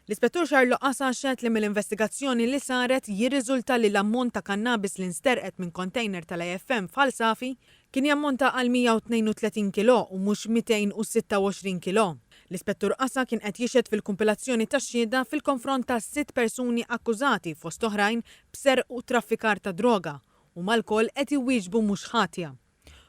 L-Ispettur Charles Loqasa xehed li mill-investigazzjoni li saret jirriżulta li l-ammont ta' kannabis li nsterqet minn kontejner tal-AFM f'Ħal Safi kien jammonta għal 132 kilò u mhux 226 kilò. L-Ispettur Qasa kien qed jixhed fil-kumpilazzjoni tax-xhieda fil-konfront ta' sitt persuni akkużati fost oħrajn b'serq u traffikar ta' droga, huma lkoll qed iwieġbu mhux ħatja.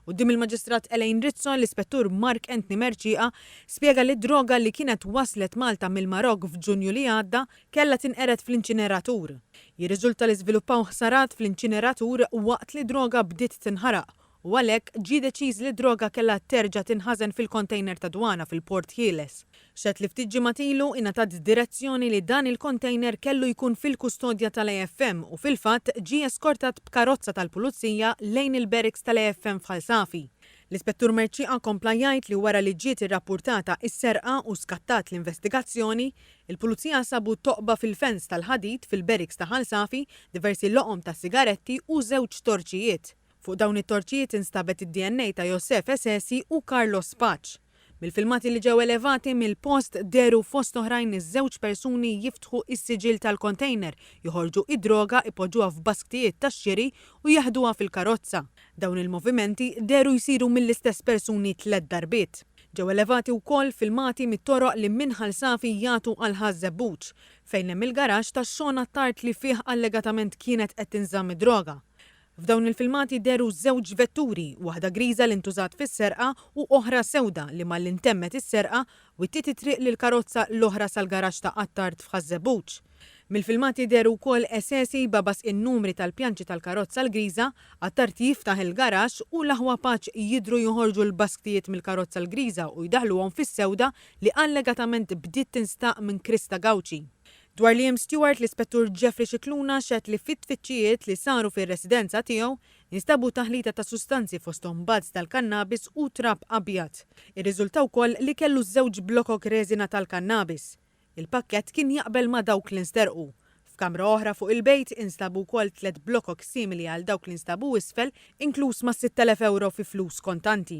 Quddiem il-Maġistrat Elaine Rizzo, l-Ispettur Mark Anthony Mercieqa spjega li d-droga li kienet waslet Malta mill-Marokk f'Ġunju li għadda kellha tinqered fl-inċineratur. Jirriżulta li żviluppaw ħsarat fl-inċineratur waqt li droga bdiet tinħaraq u għalhekk ġie deċiż li d-droga kellha terġa' tinħażen fil-kontejner tad-dwana fil-Port Ħieles. Xehed li ftit ġimgħat ilu ingħatat direzzjoni li dan il-kontejner kellu jkun fil-kustodja tal-AFM u fil-fatt ġie eskortat b'karozza tal-Pulizija lejn il-barracks tal-AFM f'Ħal Safi. L-Ispettur Mercieqa kompla jgħid li wara li ġiet irrappurtata s-serqa u skattat l-investigazzjoni, il-Pulizija sabu toqba fil-fens tal-ħadid fil-barracks ta' Ħal Safi, diversi loqom ta' sigaretti u żewġ torċijiet. Fuq dawn it-torċijiet instabet id-DNA ta' Yossef Esesi u Carlos Paċ. Mill-filmati li ġew elevati mill-post dehru fost oħrajn iż-żewġ persuni jiftħu s-siġill tal-kontejner, joħorġu d-droga, ipoġġuha f'basktijiet tax-xiri u jeħduha fil-karozza. Dawn il-movimenti dehru jsiru mill-istess persuni tliet darbiet. Ġew elevati wkoll filmati mit-toroq li minn Ħal Safi jagħtu għal Ħaż Żebbuġ, fejn hemm il-garaxx tax-xogħol għat-tard li fih allegatament kienet qed tinżamm id-droga. F'dawn il-filmati dehru żewġ vetturi, waħda griża li ntużat fis-serqa u oħra sewda li malli ntemmet is-serqa, wittiet it-triq lill-karozza l-oħra sal-garaxx ta' Attard f'Ħaż-Żebbuġ. Mill-filmati dehru wkoll Esesi jbabaż in-numri tal-pjanċi tal-karozza l-griża, Attard jiftaħ il-garaxx u l-aħwa Paċ jidhru joħorġu l-basktijiet mill-karozza l-griża u jdaħħluhom fis-sewda li allegatament bdiet tinstaq minn Christa Gauci. Dwar Liam Stewart, l-Ispettur Jeffrey Scicluna xehed li fit-tfittxijiet li saru fir-residenza tiegħu instabu taħlita ta' sustanzi fosthom buds tal-kannabis u trab abjad. Irriżulta wkoll li kellu żewġ blokok reżina tal-kannabis. Il-pakkett kien jaqbel ma' dawk li nsterqu. F'kamra oħra fuq il-bejt instabu wkoll tliet blokok simili għal dawk li nstabu isfel, inkluż mas-6,000 ewro fi flus kontanti.